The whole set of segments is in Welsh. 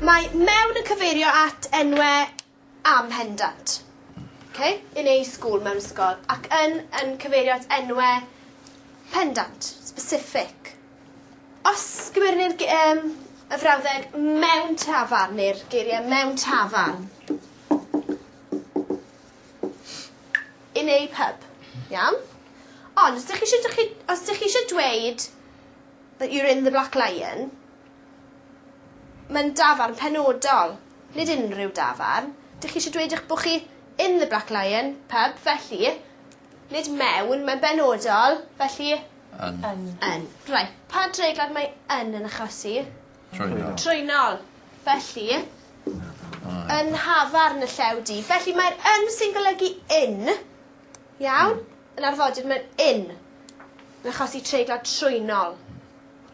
Mae mewn yn cyfeirio at enwe am hendant. Okay? In a school, mewn ysgol. Ac yn yn cyfeirio at enwe pendant, specific. Os gymerni'r um, y frawddeg mewn tafarn neu'r geiriau mewn tafarn, in a pub. Iawn? Ond os dych chi isio dych chi os dych chi isio dweud that you're in the Black Lion mae'n dafarn penodol, nid unrhyw dafarn. Dych chi isio dweud eich bod chi in the Black Lion pub felly nid mewn mae'n benodol felly Yn. Yn. Yn. Reit pa dreiglad mae yn yn achosi? Trwynol. Trwynol. Felly, yn nhafarn y llew du. Felly mae'r yn sy'n golygu in. Iawn? Hmm. Yn arfodir mae'r in. Yn achosi treiglo trwynol.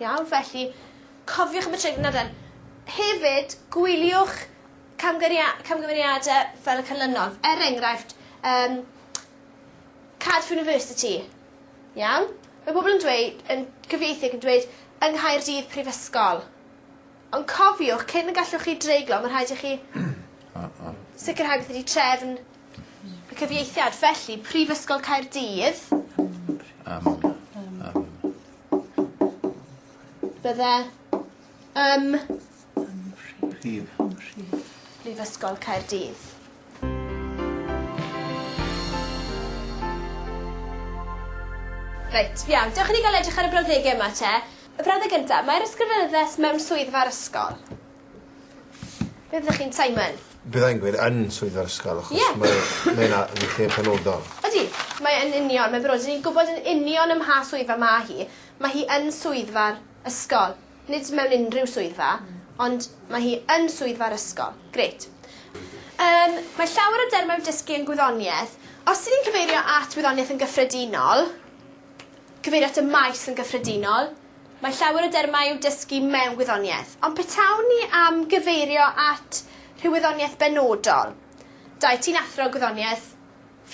Iawn? Felly, cofiwch am y treiglo nadan. Hefyd, gwyliwch camgymeriadau fel y canlynol. Er enghraifft, um, Cardiff University. Iawn? Mae pobl yn dweud yn cyfieithu ac yn dweud yng Nghaerdydd prifysgol. Ond cofiwch cyn y gallwch chi dreiglo ma' rhaid i chi sicirhau beth ydi trefn y cyfieithiad felly Prifysgol Caerdydd. Yym yym. Bydde ym... Ym mhrif. Prif. Prifysgol Caerdydd. Reit, iawn, dewch i ni gael edrych ar y brawddegau yma te. Y brawddeg gynta, mae'r ysgrifenyddes mewn swyddfa'r ysgol. Be fyddech chi'n, Simon? Byddai'n gweud yn swyddfa'r ysgol achos... Ie. ...mae mae yna yn lle penodol. Ydi, mae yn union, mae'n benodol. 'Dyn ni'n gwbod yn union ym mha swyddfa ma' hi. Ma' hi yn swyddfa'r ysgol. Nid mewn unrhyw swyddfa, ond mae hi yn swyddfa'r ysgol. Grêt. Yym, mae llawer o dermau dysgu yn gwyddoniaeth. Os dyn ni'n cyfeirio at wyddoniaeth yn gyffredinol, cyfeirio at y maes yn gyffredinol, mae llawer o dermau i'w dysgu mewn gwyddoniaeth. Ond petawn ni am gyfeirio at rhyw wyddoniaeth benodol, dau, ti'n athro gwyddoniaeth,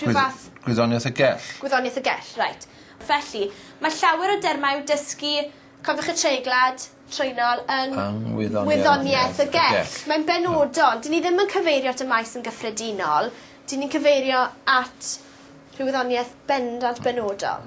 rhyw fath... Gwyddoniaeth y gell. Gwyddoniaeth y gell, reit. Felly, mae llawer o dermau i'w dysgu Cofiwch y treiglad, trwynol, yng Ngwyddoniaeth, Ngwyddoniaeth y Gerdd. Mae'n benodol. Dyn ni ddim yn cyfeirio at y maes yn gyffredinol. Dyn ni'n cyfeirio at rhyw wyddoniaeth bendant benodol.